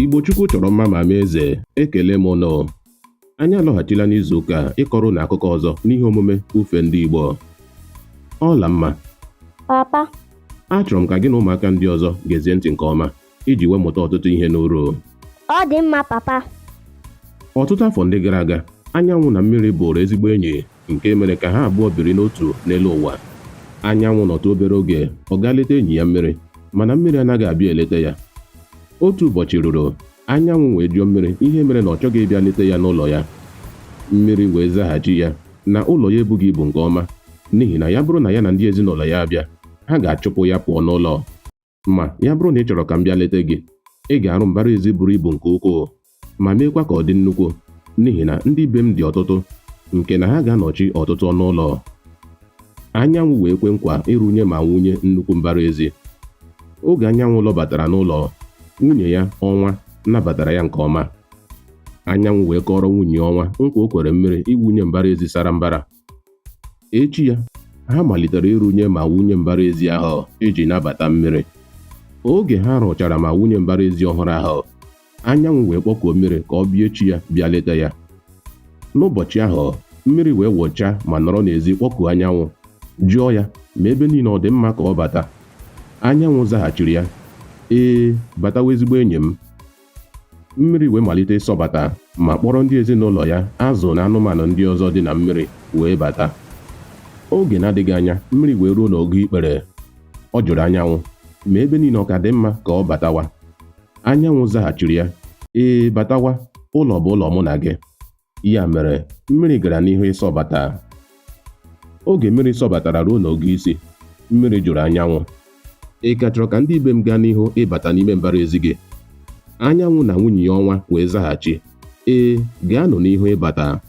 Igbo Chukwu chọrọ mma ma mee eze ekele m ụnụ anyị alọghachila n'izu ụka a ịkọrọ ụnụ akụkọ ọzọ n'ihe omume ufe ndị Igbo Ọlamma papa achọrọ m ka gị na ụmụaka ndị ọzọ gezie ntị nke ọma iji wee mụta ọtụtụ ihe n'uru ọ dị mma papa ọtụtụ afọ ndị gara aga anyanwụ na mmiri bụrụ ezigbo enyi nke mere ka ha abụọ biri n'otu n'elu ụwa. Anyanwụ nọtụ obere oge, ọ gaa leta enyi ya mmiri, mana mmiri anaghị abịa eleta ya. Otu ụbọchị ruru, anyanwụ wee jụọ mmiri ihe mere na ọ chọghị ịbịa leta ya n'ụlọ ya. Mmiri wee zaghachi ya na ụlọ ya ebughị ibu nke ọma n'ihi na ya bụrụ na ya na ndị ezinụlọ ya abịa, ha ga-achụpụ ya pụọ n'ụlọ. Ma, ya bụrụ na ị chọrọ ka m bịa leta gị, ị ga-arụ mbara ezi buru ibu nke ukwuu, ma meekwa ka ọ dị nnukwu, n'ihi na ndị be m dị ọtụtụ, nke na ha ga-anọchi ọtụtụ ọnụ ụlọ. Anyanwụ wee kwe nkwa ịrụnye ma wunye nnukwu mbara ezi. Oge anyanwụ lọbatara n'ụlọ, nwunye ya, ọnwa, nabatara ya nke ọma. Anyanwụ wee kọọrọ nwunye ọnwa nkwa o kwere mmiri iwunye mbara ezi sara mbara. echi ya ha malitere ịrụnye ma wunye mbara ezi ahụ iji nabata mmiri oge ha rụchara ma wunye mbara ezi ọhụrụ ahụ anyanwụ wee kpọkuo mmiri ka ọ bịa echi ya bịa leta ya n'ụbọchị ahụ mmiri wee wụchaa ma nọrọ n'ezi kpọkuo anyanwụ jụọ ya ma ebe niile ọ dị mma ka ọ bata anyanwụ zaghachiri ya ee batawa ezigbo enyi m mmiri wee malite ịsọbata ma kpọrọ ndị ezinụlọ ya azụ na anụmanụ ndị ọzọ dị na mmiri wee bata oge na-adịghị anya mmiri wee ruo n'ogo ikpere ọ jụrụ anyanwụ ma ebe niile ọ ka dị mma ka ọ batawa anyanwụ zaghachiri ya ee batawa ụlọ bụ ụlọ mụ na gị ya mere mmiri gara n'ihu ịsọbata oge mmiri sọbatara ruo n'ogo isi mmiri jụrụ anyanwụ ị ka chọrọ ka ndị be m gaa n'ihu ịbata n'ime mbara ezi gị anyanwụ na nwunye ya ọnwa wee zaghachi ee gaanụ n'ihu ịbata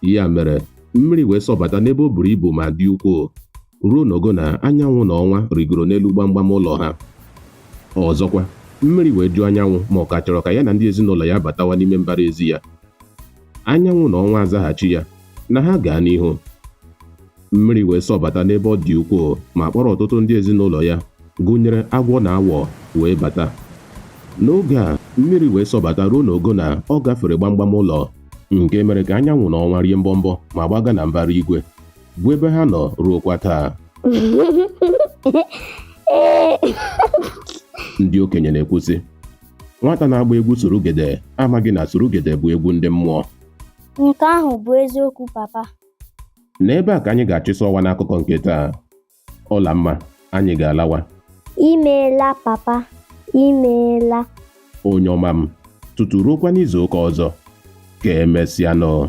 ya mere mmiri wee sọbata n'ebe o buru ibu ma dị ukwuu ruo n'ogo na anyanwụ na ọnwa rigoro n'elu gbamgbam ụlọ ha ọzọkwa mmiri wee jụọ anyanwụ ma ọ ka chọrọ ka ya na ndị ezinụlọ ya batawa n'ime mbara ezi ya anyanwụ na ọnwa azaghachi ya na ha gaa n'ihu mmiri wee sọbata n'ebe ọ dị ukwuu ma kpọrọ ọtụtụ ndị ezinụlọ ya gụnyere agwọ na awọ wee bata n'oge a mmiri wee sọbata ruo n'ogo na ọ gafere gbamgbam ụlọ nke mere ka anyanwụ na ọnwa rie mbọmbọ ma gbaga na mbara igwe bụ ebe ha nọ ruokwa taa ndị okenye na-ekwu sị nwata na-agba egwu surugede amaghị na surugede bụ egwu ndị mmụọ nke ahụ bụ eziokwu papa n'ebe a ka anyị ga-achịsọ ọwa n'akụkọ nke taa Ọla mma, anyị ga-alawa. Imeela papa, imeela. Onye ọma m, tutu ruokwa n'izu ụka ọzọ. Ka emesịanụ.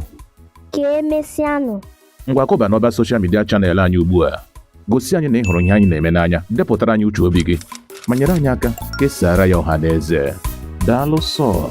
Ka emesịanụ. Ngwa kụba n'ọba soshal midia chanel anyị ugbu a. Gosi anyị na ị hụrụ ihe anyị na-eme n'anya, depụtara anyị uche obi gị, ma nyere anyị aka kesaara ya ọha na eze. Daalụ sọọ.